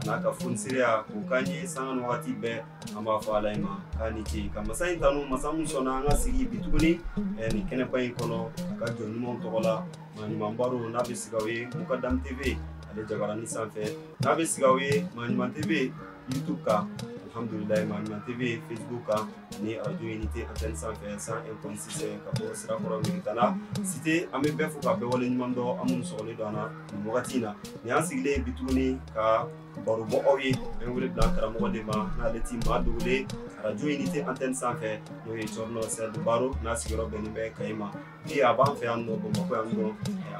a n'a ka fonisereya k'o k'an ye sanga ni wagati bɛɛ an b'a fɔ ala in ma k'a ni ce ka masa in tanu masa min sɔnna an ka sigi bi tuguni eh, nin kɛnɛba in kɔnɔ ka jɔn ɲumanw tɔgɔ la maa ɲuman baro n'a bɛ sigi aw ye mukadam tv ale jabarani sanfɛ n'a bɛ sigi aw ye maa ɲuman tv youtube kan alhamdulilayi maa ɲuman tv facebook kan ni arajo unité antenne sanfɛ 101.6 ka bɔ sirakɔrɔ megetana cité an bɛ bɛɛ fo ka bɛɛ wale ɲuman dɔn aw minnu sɔgɔlen don an na nin wagati in na nin y'an sigilen ye bi tuguni ka baro bɔ aw ye an bɛ wele bila karamɔgɔ de ma n'ale ti maa dogolen arajo unité antenne sanfɛ n'o ye cɔrɔnɔ sɛdi baro n'a sigiyɔrɔ bɛnnen bɛ kayi ma bi a b'an fɛ yan nɔ bamakɔ yan nɔ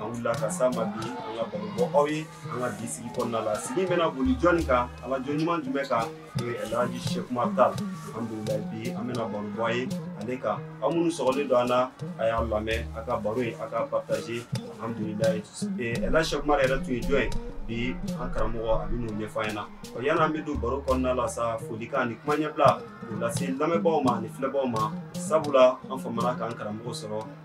an wulila ka s'a ma bi an ka baro bɔ aw ye an ka bi sigi kɔnɔna la sigi bɛna boli jɔni kan ala jɔn ɲuman jumɛn kan Alhaji Seku Umar Tall alhamdulilayi bi an bɛna baro bɔ aw ye ale kan aw minnu sɔgɔlen don an na a y'a lamɛn a ka baro in a ka partager alhamdulilayi Alhaji Seku Umar yɛrɛ tun ye jɔn ye bi an karamɔgɔ a bɛn'o ɲɛfɔ an ɲɛna ɔ yanni an bɛ don baro kɔnɔna la sa folikan ani kuma ɲɛbila k'o lase lamɛnbaaw ma ani filɛbaaw ma sabula an famana k'an karamɔgɔ sɔrɔ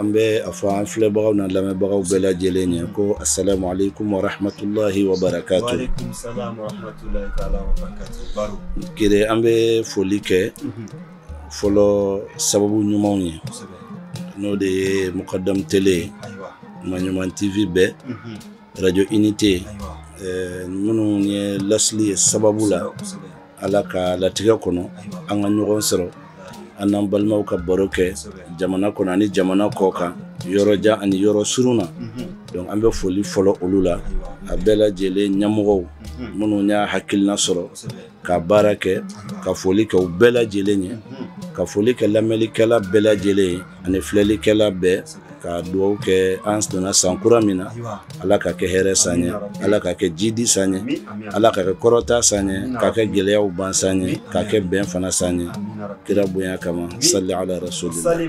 an bɛ a fɔ an filɛbagaw n'an lamɛnbagaw bɛɛ lajɛlen ye ko asalamu alekum wa rahamatulayi wa barakatu kire an bɛ foli kɛ fɔlɔ sababu ɲumanw ye n'o de ye mukadam tele maa ɲuman tv bɛɛ arajo unité minnu ye laseli ye sababu la Ala ka latigɛ kɔnɔ an ka ɲɔgɔn sɔrɔ an n'an balimaw ka baro kɛ jamana kɔnɔ ani jamana kɔ kan yɔrɔjan ani yɔrɔ surun na donc an bɛ foli fɔlɔ olu la a bɛɛ lajɛlen ɲɛmɔgɔw minnu y'a hakilina sɔrɔ ka baara kɛ ka foli kɛ u bɛɛ lajɛlen ye ka foli kɛ lamɛnlikɛla bɛɛ lajɛlen ye ani filɛlikɛla bɛɛ ka dugawu kɛ an sen donna san kura min na ala ka kɛ hɛrɛ san ye ala ka kɛ jidi san ye ala ka kɛ kɔrɔta san ye ka kɛ gɛlɛyaw ban san ye ka kɛ bɛn fana san ye kira bonya kama sali ala rasulilayi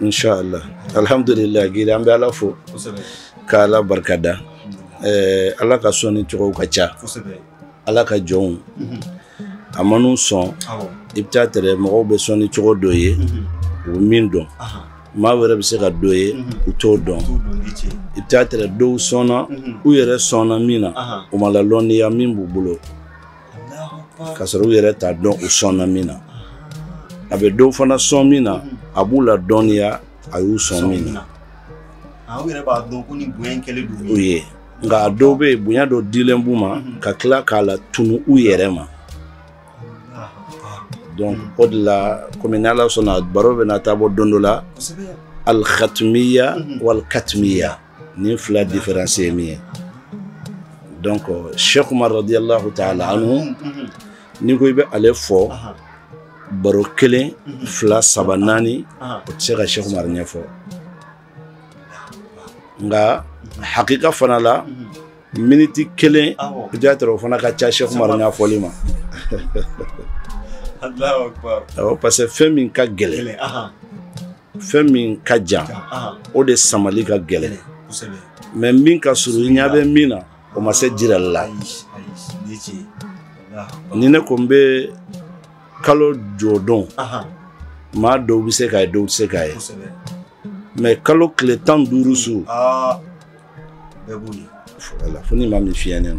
inshala alihamdulilayi an bɛ ala fo k' ala barika da ɛɛ ala ka sɔnni cogo ka ca ala ka jɔnw mhm. a man'u sɔn i bɛ taa tɛrɛ mɔgɔw bɛ sɔnni cogo dɔ ye mhm. u min dɔn maa wɛrɛ bɛ se ka dɔ ye mhm. u t'o dɔn i bɛ taa tɛrɛ dɔw sɔnna u yɛrɛ sɔnna min na u ma la lɔnniya min b'u bolo ka sɔrɔ u yɛrɛ t'a dɔn u sɔnna min na a bɛ dɔw fana sɔn min na a b'u ladɔnniya a y'u sɔn min na ah, u ye nka a dɔw bɛ yen bonya dɔ dilen b'u ma mhm. ka tila k'a latunu u yɛrɛ ma donc mhm. o de la komi ni ala sɔnna baro bɛna taa bɔ don dɔ la al-khatmiya mhm. wal-katmiya nin fila différence ye min ye donc Cheikh Umar radiyallahu ta'ala anhu n'i ko i bɛ ale fɔ baro kelen fila saba naani o tɛ se ka Cheikh Umar ɲɛfɔ nka hakika fana la miniti kelen peut-être o fana ka ca Cheikh Umar ɲɛfɔli ma awɔ parce que fɛn min ka gɛlɛn fɛn min ka jan o de samali ka gɛlɛn mais min ka surun i ɲɛ bɛ min na o ma se jirali la ni ne ko n bɛ kalo jɔdon maa dɔw bɛ se k'a ye dɔw tɛ se k'a ye mais kalo tile tan duuru su bɛɛ b'o ye voilà fo ni maa min fiyɛnen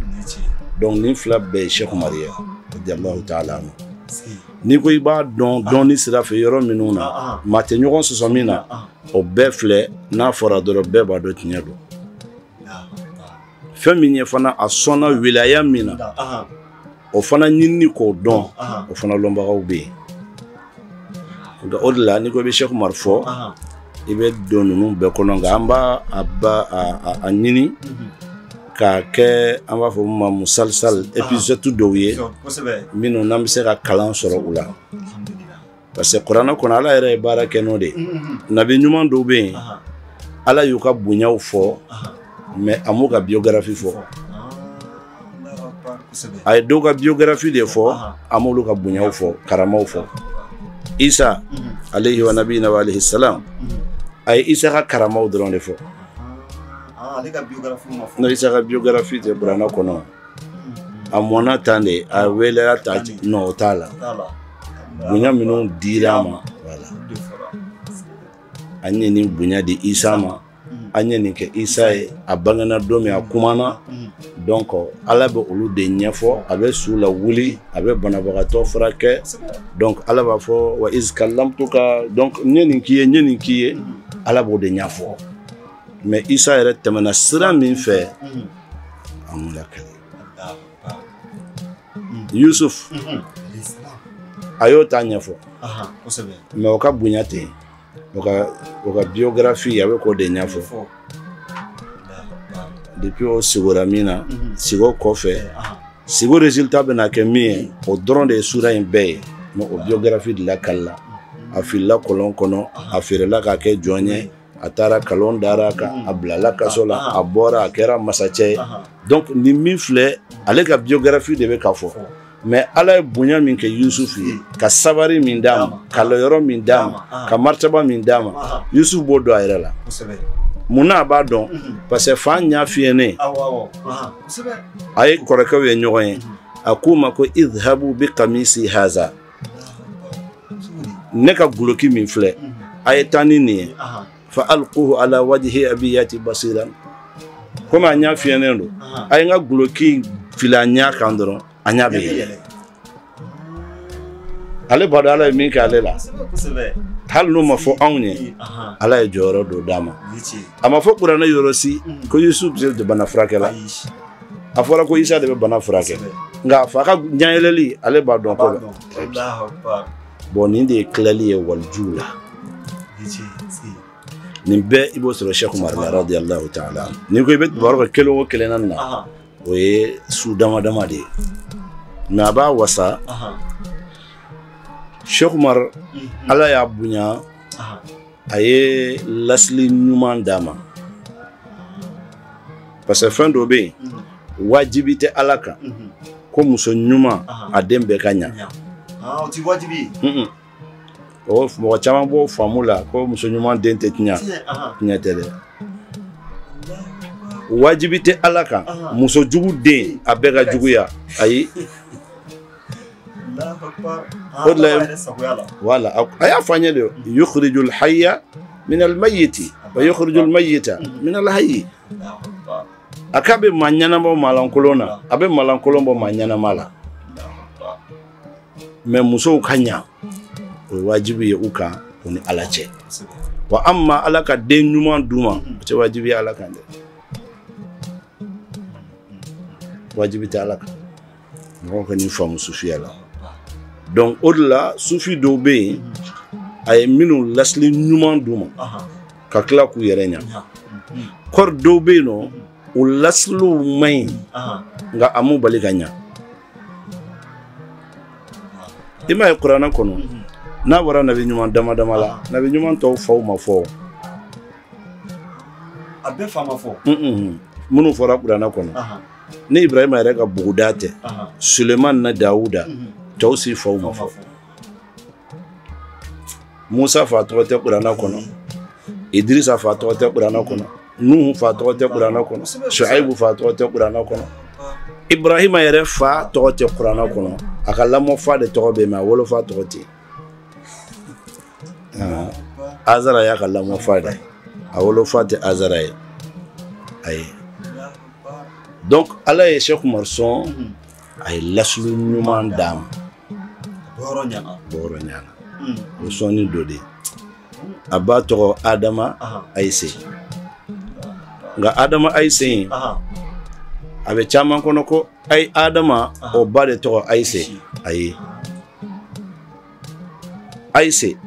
don donc nin fila bɛɛ ye Cheikh Umaru ye radiyallahu ta'ala anhu si n'i ko i b'a dɔn dɔnni sira fɛ yɔrɔ minnu na Ah, maa tɛ ɲɔgɔn sɔsɔ min na ah o bɛɛ filɛ n'a fɔra dɔrɔn bɛɛ b'a dɔn tiɲɛ don ah fɛn min ye fana a sɔnna wilaya min na ah o fana ɲinini k'o dɔn o fana lɔnbagaw bɛ yen nka o de la n'i ko i bɛ Cheikh Umar fɔ i bɛ don ninnu bɛɛ kɔnɔ nka an b'a ɲini mhm. k'a kɛ an b'a fɔ min ma musalsal épisode dɔw ye minnu n'an bɛ se ka kalan sɔrɔ u la parce que kuranɛ kɔnɔ ala yɛrɛ ye baara kɛ n'o de ye nabi ɲuman dɔw bɛ yen ala y'u ka bonyaw fɔ mais a m'u ka biografi fɔ a ye dɔw ka biografi de fɔ a m'olu ka bonyaw fɔ karamaw fɔ isa alayhi wa nabiyina wa alayhi salam a ye isa ka karamaw dɔrɔn de fɔ non isa ka biografi tɛ kuranɛ kɔnɔ a mɔna tan de a welela tan non o t'a la bonya minnu dira a ma an ye nin bonya di isa ma an ye nin kɛ isa ye a bangena don min a kumana donc ala bɛ olu de ɲɛfɔ a bɛ su lawuli a bɛ banabagatɔ furakɛ donc ala b'a fɔ wa iz allamtuka donc n ye nin k'i ye n ye nin k'i ye ala b'o de ɲɛfɔ mais isa yɛrɛ tɛmɛna sira min fɛ a m'o lakali yusuf a y'o ta ɲɛfɔ mais o ka bonya tɛ o ka o ka biographie a bɛ k'o de ɲɛfɔ depuis o sigora min na mhm. sigo kɔfɛ sigo résultat bɛna kɛ min ye o dɔrɔn de ye sura in bɛɛ ye mais o biographie de lakalila a filila kɔlɔn kɔnɔ a feerela k'a kɛ jɔn ye a taara kalon dara a kan a bilala kaso la a bɔra a kɛra masacɛ ye donc nin min filɛ ale ka biographie de bɛ ka fɔ mais ala ye bonya min kɛ yusufu ye ka sabari min d'a ma ka lɔyɔrɔ min d'a ma ka martaba min d'a ma yusufu b'o dɔn a yɛrɛ la mun na a b'a dɔn parce que fa ɲa fiyɛnen a ye kɔrɔkɛw ye ɲɔgɔn ye a k'u ma ko idhabu bi kamisi haza ne ka guloki min filɛ a ye taa ni nin ye fa alquhu ala wajhi abi yati basiran komi a ɲa fiyɛnen don a ye n ka guloki fili a ɲa kan dɔrɔn a ɲa bɛ yɛlɛ ale b'a dɔn ala ye min kɛ ale la hali n'o ma fɔ anw ye ala ye jɔyɔrɔ dɔ d'a ma a ma fɔ kuranɛ yɔrɔ si ko yusuf de bana furakɛ la a fɔra ko isa de bɛ bana furakɛ nka a fa ka ɲɛyɛlɛli ale b'a dɔn k'o bɛ bɔ nin de ye tilali ye walijuw la nin bɛɛ i b'o sɔrɔ sɛku umar la radiyallahu taala n'i ko i bɛ baro kɛ kelen o kelen na nin na o ye su dama dama de ye mais a b'a wasa sɛku umar ala y'a bonya a ye lasili ɲuman d'a ma parce que fɛn dɔ bɛ yen wajibi tɛ ala kan ko muso ɲuman a den bɛɛ ka ɲa ah, o ti wajibi o mɔgɔ caman b'o faamu la ko muso ɲuman den tɛ tiɲa tiɲɛ tɛ dɛ wajibi tɛ ala kan muso jugu den a bɛɛ ka juguya ayi o de la ala a y'a fɔ an ye de yukhrijul hayya min al mayyiti wa yukhrijul mayyita min al hayyi a k'a bɛ maa ɲɛnama bɔ maalankolon na a bɛ maalankolon bɔ maa ɲɛnama la mais musow ka ɲa o ye wajibi ye u kan u ni ala cɛ wa amma ala ka den ɲuman d'u ma o tɛ wajibi ye ala kan dɛ wajibi tɛ ala kan mɔgɔ ka nin faamu sufiya la donc o de la sufi dɔw bɛ yen a ye minnu lasili ɲuman d'u ma ka tila k'u yɛrɛ ɲa kɔri dɔw bɛ yen nɔ o lasiliw man ɲi nka a m'u bali ka ɲa i m'a ye kuranɛ kɔnɔ n'a bɔra nabi ɲuman dama dama la nabi ɲuman tɔw faw ma fɔ a bɛɛ fa ma fɔ minnu fɔra kuranɛ kɔnɔ ni ibrahima yɛrɛ ka buguda tɛ suleman na dawuda tɔw si faw ma fɔ musa fa tɔgɔ tɛ kurana kɔnɔ idirisa fa tɔgɔ tɛ kurana kɔnɔ nuhu fa tɔgɔ tɛ kurana kɔnɔ shuaibu fa tɔgɔ tɛ kurana kɔnɔ ibrahima yɛrɛ fa tɔgɔ tɛ kurana kɔnɔ a ka lamɔfa de tɔgɔ bɛ yen mais a wolofa tɔgɔ tɛ yen azara y'a ka lamɔ fa de a wolo fa tɛ azara ye ayi donc ala ye sɛk umaru sɔn a ye lasili ɲuman d'a ma bɔrɔ ɲana hmm. o sɔnni dɔ de a ba tɔgɔ adama ayise nka adama ayise in a bɛ caman kɔnɔ ko ayi adama o ba de tɔgɔ ayise ayi ayise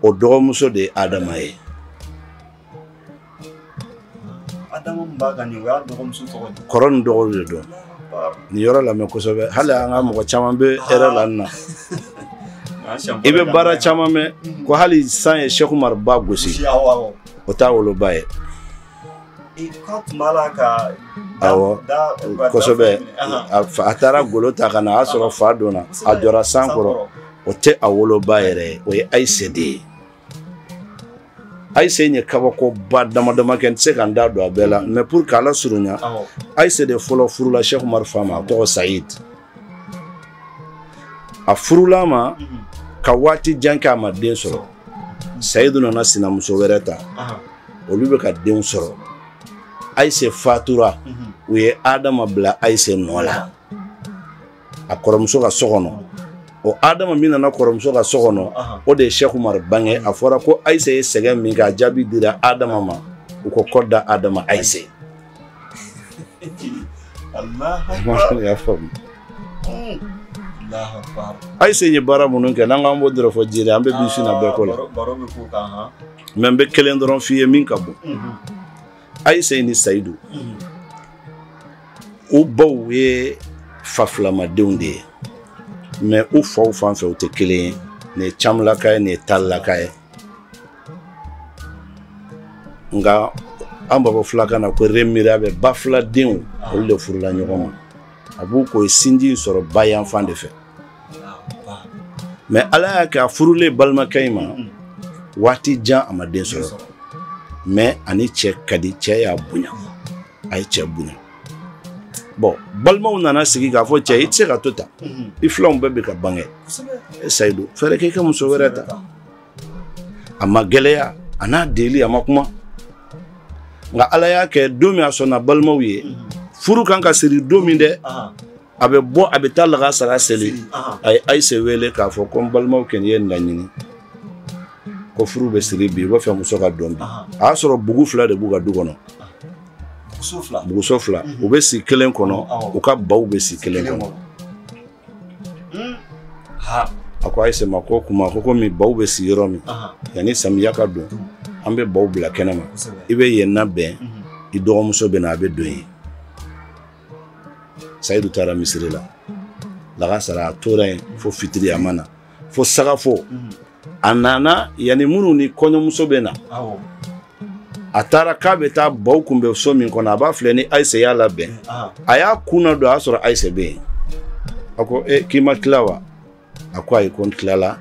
o dɔgɔmuso de ye adama ye kɔrɔ ni dɔgɔ de don nin yɔrɔ lamɛn kosɛbɛ hali an ka mɔgɔ caman bɛ erreur la nin na i bɛ baara caman mɛn ko hali san ye sɛk umari ba gosi o t'a woloba ye kosɛbɛ a taara golo ta ka na a sɔrɔ fa donna a jɔra san kɔrɔ o tɛ a woloba yɛrɛ ye o ye ayise de ye ayise ye kabakoba dama dama kɛ n tɛ se ka n da don a bɛɛ la mais pour k'a lasurunya ayise de fɔlɔ furula sɛk umari fa ma a tɔgɔ sayid a furula ma ka waati jan kɛ a ma den sɔrɔ sayidu nana sinamuso wɛrɛ ta olu bɛ ka denw sɔrɔ ayise fatura u ye adama bila ayise nɔ la a kɔrɔmuso ka so kɔnɔ o adama min nana kɔrɔmuso ka so kɔnɔ o de ye sɛk umari bange a fɔra ko ayise ye sɛgɛn min kɛ a jaabi dira adama ma u ko kɔ da adama ayise y'a faamu ayise ye baara minnu kɛ n'an k'an b'o dɔrɔn fɔ jeli an bɛ bi sin na bɛɛ k'o la mais n bɛ kelen dɔrɔn f'i ye min ka bon ayise ni sayidu u baw ye fa filamadenw de ye mais u faw fan fɛ u tɛ kelen ye nin ye camlaka ye nin ye talilaka ye nka an b'a fɔ fulakan na ko remirabɛ ba filadenw olu de furula ɲɔgɔn ma a b'i k'u ye sinji in sɔrɔ ba yanfan de fɛ mais ala y'a kɛ a furulen balimakɛ in ma waati jan a ma den sɔrɔ mais a ni cɛ ka di cɛ y'a bonya a ye cɛ bonya bon balimaw nana sigi k'a fɔ cɛ i tɛ se ka to tan i filanw bɛɛ bɛ ka bange e sayidu fɛɛrɛ k'i ka muso wɛrɛ ta a ma gɛlɛya a n'a deli a ma kuma nka ala y'a kɛ don min a sɔnna balimaw ye furu kan ka siri don min dɛ a bɛ bɔ a bɛ taa lagansara seli a ye ayise wele k'a fɔ ko n balimaw kɔni y'a laɲini ko furu bɛ siri bi u b'a fɛ muso ka don bi a y'a sɔrɔ bugu fila de b'u ka du kɔnɔ buguso fila u bɛ si kelen kɔnɔ u ka baw bɛ si kelen kɔnɔ hmm. a ko ayise ma ko kuma ko komi baw bɛ si yɔrɔ min yanni samiya ka don an bɛ baw bila kɛnɛ ma i bɛ yen labɛn mhm. i dɔgɔmuso bɛ na a bɛ don yen sayidu taara misiri la lagansara a tora yen fo fitiri a ma na fo sagafo a nana yanni minnu ni kɔɲɔmuso bɛ na a taara k'a bɛ taa baw kun bɛ so min kɔnɔ a b'a filɛ ni ayise y'a labɛn a y'a kun ladon a y'a sɔrɔ ayise bɛ yen a ko e k'i ma tila wa a ko ayi ko n tilala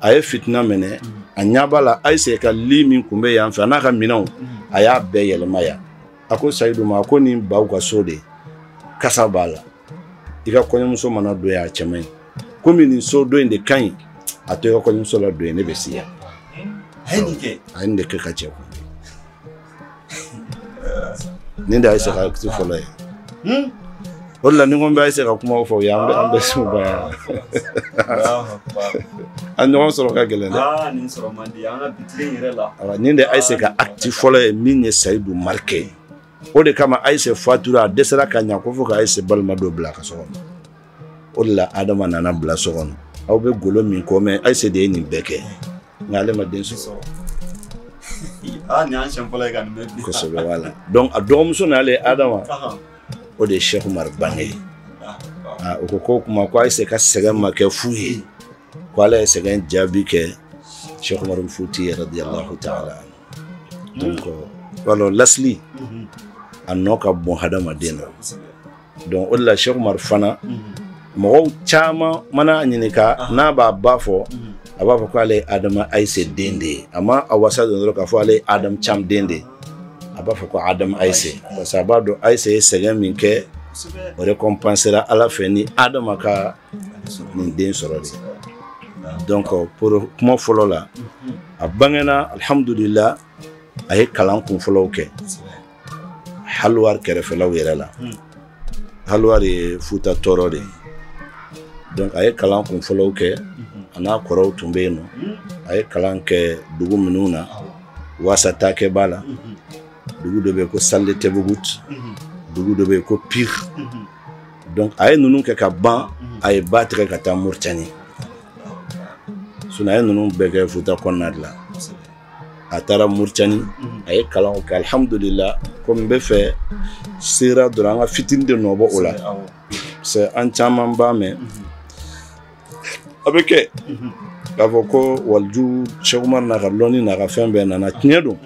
a ye fitina minɛ a ɲɛ b'a la ayise ka lit min kun bɛ yan fɛ a n'a ka minɛnw a y'a bɛɛ yɛlɛma yan a ko sayidu ma a ko nin baw ka so de kasa b'a la i ka kɔɲɔmuso mana don yan a cɛ man ɲi komi nin so dɔ in de ka ɲi a to i ka kɔɲɔmuso ladon yen ne bɛ si yan a ye nin kɛ a ye nin de kɛ ka cɛ kun nin de y'ayise ka acte fɔlɔ ye o de la ni ko n bɛ ayise ka kumaw fɔ u ye an bɛ an bɛ se u ba yan a ɲɔgɔn sɔrɔ ka gɛlɛn dɛ ah, nin sɔrɔ man di an ka bi tile yɛrɛ la awa nin de ayise ka ah, acte fɔlɔ ye min ye sayidu marqué o de kama ayise fatura a dɛsɛra ka ɲin'a kɔ fo ka ayise balima dɔ bil'a ka so kɔnɔ o de la adama nana bila so kɔnɔ aw bɛ golo min ko mɛn ayise de ye nin bɛɛ kɛ nka ale ma den sɔrɔ aa nin y'an siɲɛ fɔlɔ ye ka nin mɛn bi kosɛbɛ voilà donc a dɔgɔmuso n'ale adama Ahan. o de ye sɛku umar bange Ah, ah. Ah, o ko ko kuma ko ayise ka sɛgɛn ma kɛ fu ye ko ala ye sɛgɛn jaabi kɛ sɛku umar futiyu radiyalahu taala donc voilà lasili Mhm. a nɔ ka bon hadamaden na Kosɛbɛ. donc o de la Cheikh Umar fana mɔgɔw caman mana a ɲininka n'a b'a ba fɔ a b'a fɔ ko ale ye Adama Ayise den de ye a ma a wasa don dɔrɔn k'a fɔ ale ye Adama Cam den de ye a b'a fɔ ko Adama Ayise parce que a b'a dɔn Ayise ye sɛgɛn min kɛ o récompensera Ala fɛ ni Adama ka nin den sɔrɔ de donc pour kuma fɔlɔ la a bangena alhamdulila a ye kalan kun fɔlɔw kɛ Halwar kɛrɛfɛlaw yɛrɛ la hmm. Halwar ye Futa Tɔɔrɔ de ye donc a ye kalan kun fɔlɔw kɛ hmm. a n'a kɔrɔw tun bɛ yen nɔ hmm. a ye kalan kɛ dugu minnu na Wasataakɛ b'a la dugu dɔ bɛ yen ko Salde Tɛbugut dugu dɔ bɛ yen ko Pire donc a ye ninnu kɛ ka ban a ye ba tigɛ ka taa Mauritanie sinon a ye ninnu bɛɛ kɛ Futa kɔnɔna de la a taara Mauritanie a ye kalanw kɛ alhamdulila comme n b'a fɛ sera dɔrɔn an ka fitini de nɔbɔ o la c'est an caman b'a mɛn a bɛ kɛ k'a fɔ ko waliju Cheikh Umar n'a ka lɔnni n'a ka fɛn bɛɛ nana tiɲɛ don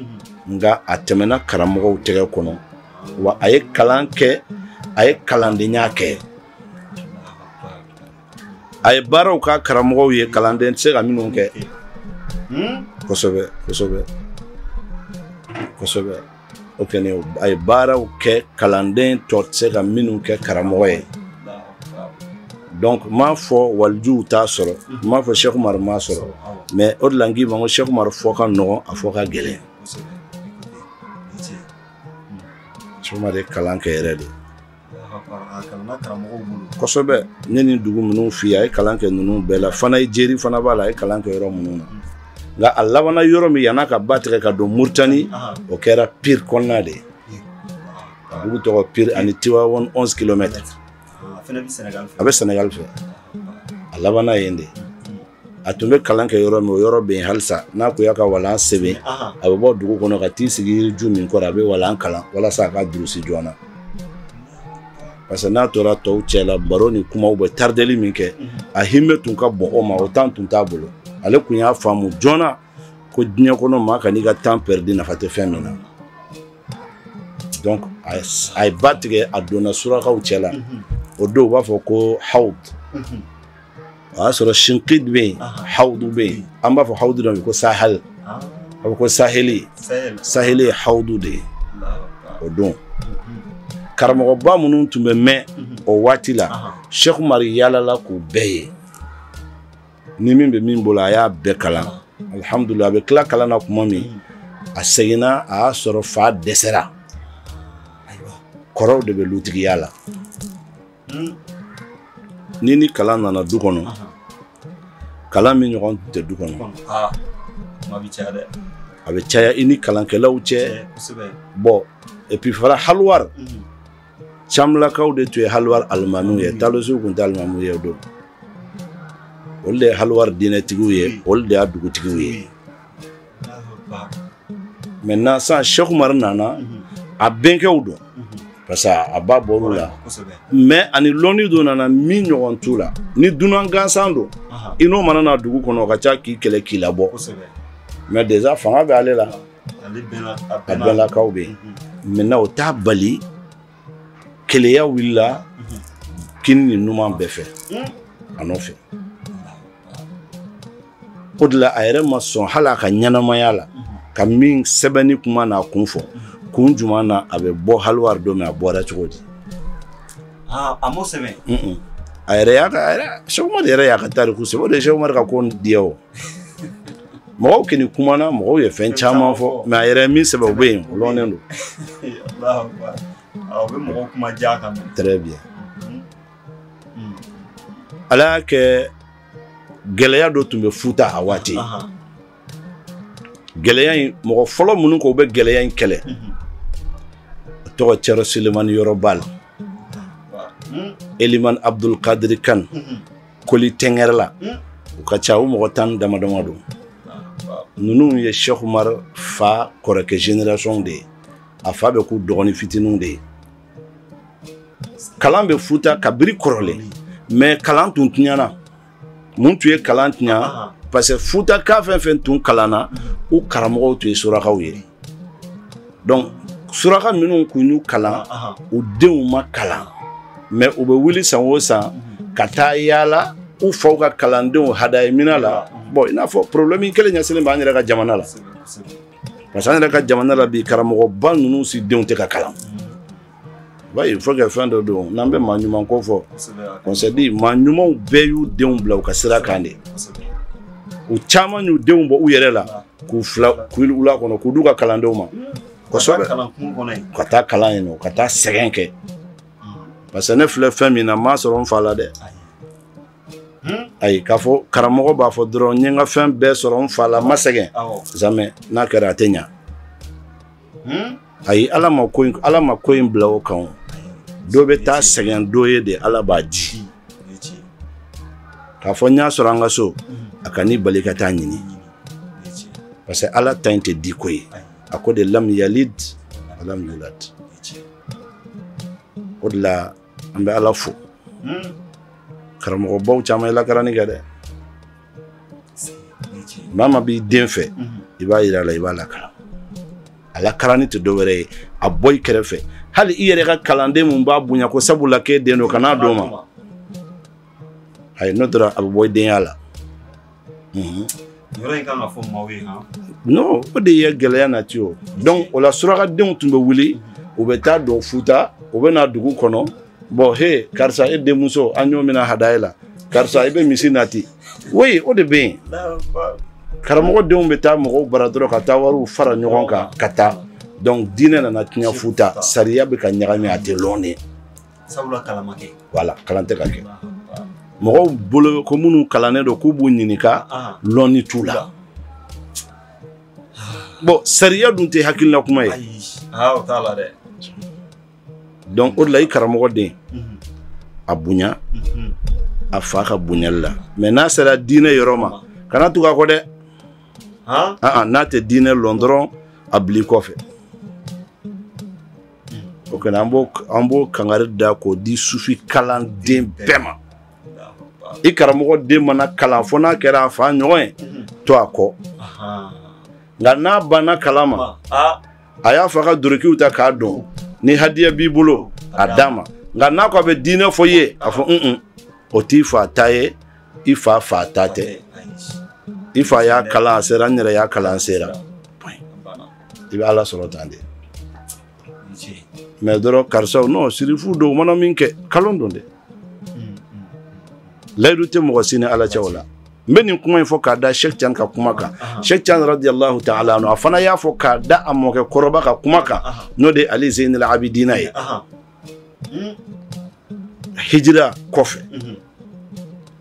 nka a tɛmɛna karamɔgɔw tɛgɛ kɔnɔ wa a ye kalan kɛ a ye kalandenya kɛ a ye baaraw kɛ karamɔgɔw ye kalanden tɛ se ka minnu kɛ kosɛbɛ kosɛbɛ kosɛbɛ o kɛlen a ye baaraw kɛ kalanden tɔ tɛ se ka minnu kɛ karamɔgɔ ye donc n m'a fɔ walijuw t'a sɔrɔ n m'a fɔ Cheikh Umar m'a sɔrɔ mais o de la n k'i ma ko Cheikh Umar fɔ ka nɔgɔn a fɔ ka gɛlɛn Cheikh Umar ye kalan kɛ yɛrɛ de kosɛbɛ n ye nin dugu minnu f'i ye a ye kalan kɛ ninnu bɛɛ la Fanaye Jeri fana b'a la a ye kalan kɛ yɔrɔ minnu na nka a labanna yɔrɔ min yan'a ka ba tigɛ ka don Mauritanie o kɛra Pire kɔnɔna de ye a dugu tɔgɔ Pire ani Tivaouane 11 kilomètres a bɛ Sénégal fɛ a labanna yen de a tun bɛ kalan kɛ yɔrɔ min o yɔrɔ bɛ yen halisa n'a kun y'a ka walan sɛbɛn a bɛ bɔ dugu kɔnɔ ka t'i sigi yiriju min kɔrɔ a bɛ walan kalan walasa a ka durusi joona parce que n'a tora tɔw cɛ la baro ni kumaw bɛ tardeli min kɛ a hinɛ tun ka bon o ma o temps tun t'a bolo ale kun y'a faamu joona ko diɲɛ kɔnɔ maa kan'i ka temps pɛridi nafa tɛ fɛn min na donc a ye ba tigɛ a donna surakaw cɛ la o don u b'a fɔ ko Hawd o y'a sɔrɔ shinkid bɛ yen hawudu bɛ yen an b'a fɔ hawudu dɔ ma ko sahel ah. a bɛ ko saheli saheli ye hawudu de ye o don karamɔgɔba minnu tun bɛ yen mhm. o waati la sheikh umar yaalala k'u bɛɛ ye ni min bɛ min bolo a y'a bɛɛ kalan alihamudulila a bɛ tila kalan na tuma min mhm. a seginna a y'a sɔrɔ fa dɛsɛra kɔrɔw de bɛ lutigiya la hmm. ni ni kalan nana du kɔnɔ kalan min ɲɔgɔn tɛ du kɔnɔ ah, a bɛ caya i ni kalankɛlaw cɛ bon et puis fana haliwari hmm. camlakaw de tun ye haliwari alimamiw ye hmm. talosiw tun tɛ alimamiw ye o don olu de ye haliwari diinɛtigiw ye olu de y'a dugutigiw ye maintenant sisan sɛkumari nana a bɛnkɛw don parce que a ba bɔr'u la mais ani lɔnni dɔ nana min ɲɔgɔn t'u la ni dunan gansan don i n'o mana na dugu kɔnɔ o ka ca k'i kɛlɛ k'i labɔ mais déjà fanga bɛ ale la a bɛnlakaw bɛ yen maintenant o t'a bali keleya wulila kini ni numan bɛɛ fɛ a nɔfɛ o de la a yɛrɛ ma sɔn hali a ka ɲɛnamaya la ka min sɛbɛnni kuma n'a kun fɔ kun jumɛn na a bɛ bɔ haliwari don min a bɔra cogo di ah, a m'o sɛbɛn a yɛrɛ y'a ka a yɛrɛ sɛkumari yɛrɛ y'a ka tariku sɛbɛn o de ye sɛkumari ka ko diya o mɔgɔw kɔni kumana mɔgɔw ye fɛn caman fɔ mais a yɛrɛ min sɛbɛn o bɛ yen o lɔnnen don ah, très bien mm-hmm. ala y'a kɛ gɛlɛya dɔ tun bɛ futa a waati gɛlɛya in mɔgɔ fɔlɔ minnu k'u bɛ gɛlɛya in kɛlɛ o tɔgɔ cɛrɔ sulemani yɔrɔ bal elimani abdul kadiri kan koli tɛngɛrɛla u ka ca u mɔgɔ tan dama dama don ninnu ye sheikh umar fa kɔrɔkɛ génération de ye a fa bɛ k'u dɔgɔnin fitininw de ye kalan bɛ futa kabiri kɔrɔlen mais kalan tun tiɲɛna mun tun ye kalan tiɲa parce que futaka fɛn fɛn tun kalanna u karamɔgɔw tun ye surakaw ye donc suraka minnu kun y'u kalan u denw ma kalan mais u bɛ wuli san o san mhm. ka taa yaala u faw ka kalandenw hadaya mina la bon i n'a fɔ problème kelen ɲɛsinnen b'an yɛrɛ ka jamana la parce que an yɛrɛ ka jamana la bi karamɔgɔba ninnu si denw tɛ ka kalan ba il faut que fɛn dɔ don n'an bɛ maa ɲuman ko fɔ on se dit maa ɲumanw bɛɛ y'u denw bila u ka sira kan de u caman y'u denw bɔ u yɛrɛ la k'u fili wula kɔnɔ k'u d'u ka kalandenw ma kosɛbɛ ka taa kalan yen non ka taa sɛgɛn kɛ parce que ne filɛ fɛn min na n m'a sɔrɔ n fa la dɛ ayi k'a fɔ karamɔgɔ b'a fɔ dɔrɔn n ye n ka fɛn bɛɛ sɔrɔ n fa la n ma sɛgɛn jamais n'a kɛra a tɛ ɲa ayi ala ma ko in ala ma ko in bila o kan o dɔ bɛ taa sɛgɛn dɔ ye de ala b'a di k'a fɔ n y'a sɔrɔ an ka so a kan'i bali ka taa ɲini parce que ala ta in tɛ denko ye a ko de lam yalid wa lam yulad o de la an bɛ ala fo karamɔgɔbaw caman ye lakaranni kɛ dɛ maa ma b'i den fɛ i b'a yira a la i b'a lakaran a lakaranni tɛ dɔ wɛrɛ ye a bɔ i kɛrɛfɛ hali i yɛrɛ ka kalanden min b'a bonya ko sabula k'e den don kan'a d'o ma ayi n'o dɔrɔn a bɛ bɔ i denya la yɔrɔ in kan ka fɔ maaw ye han non o de ye gɛlɛya nati o donc o la surakadenw tun bɛ wuli u bɛ taa don futa u bɛ na dugu kɔnɔ bon he karisa e denmuso an y'o mina hadaye la karisa i bɛ misi nati oui o de bɛ yen karamɔgɔ denw bɛ taa mɔgɔw bara dɔrɔn ka taa wariw fara ɲɔgɔn kan ka taa donc diinɛ nana tiɲɛ futa sariya bɛ ka ɲagami a tɛ lɔn de sabula kalan ma kɛ wala kalan tɛ ka kɛ mɔgɔw bolo ko minnu kalannen don k'u b'u ɲininka lɔnni t'u la bon sariya dun tɛ hakilina kuma ye donc o de la i karamɔgɔ den mhm. a bonya mhm. a fa ka bonyali la mais n'a sera diinɛ yɔrɔ ma kana tugu a kɔ dɛ n'a tɛ diinɛ lɔn dɔrɔn a bil'i kɔfɛ o kɛlen an b'o an b'o kangari da k'o di sufi kalanden bɛɛ ma i karamɔgɔ den mana kalan fo n'a kɛra a fa ɲɔgɔn ye to a kɔ nka n'a banna kalan ma a y'a fa ka dorokiw ta k'a don ni hadiya b'i bolo a d'a ma nka n'a ko a bɛ diinɛ fɔ i ye a fɔ un o t'i fa ta ye i fa fa ta tɛ i fa y'a kalan a sera n yɛrɛ y'a kalan sera i bɛ ala sɔrɔ tan de mais dɔrɔn karisaw non sirifu don u mana min kɛ kalon don dɛ layidu tɛ mɔgɔ si ni ala cɛ o la n bɛ nin kuma in fɔ k'a da cheikh tidiane ka kuma kan cheikh tidiane radiyallahu ta'ala anhu a fana y'a fɔ k'a da a mɔkɛ kɔrɔba ka kuma kan n'o de ali zeynal abidina ye hijira kɔfɛ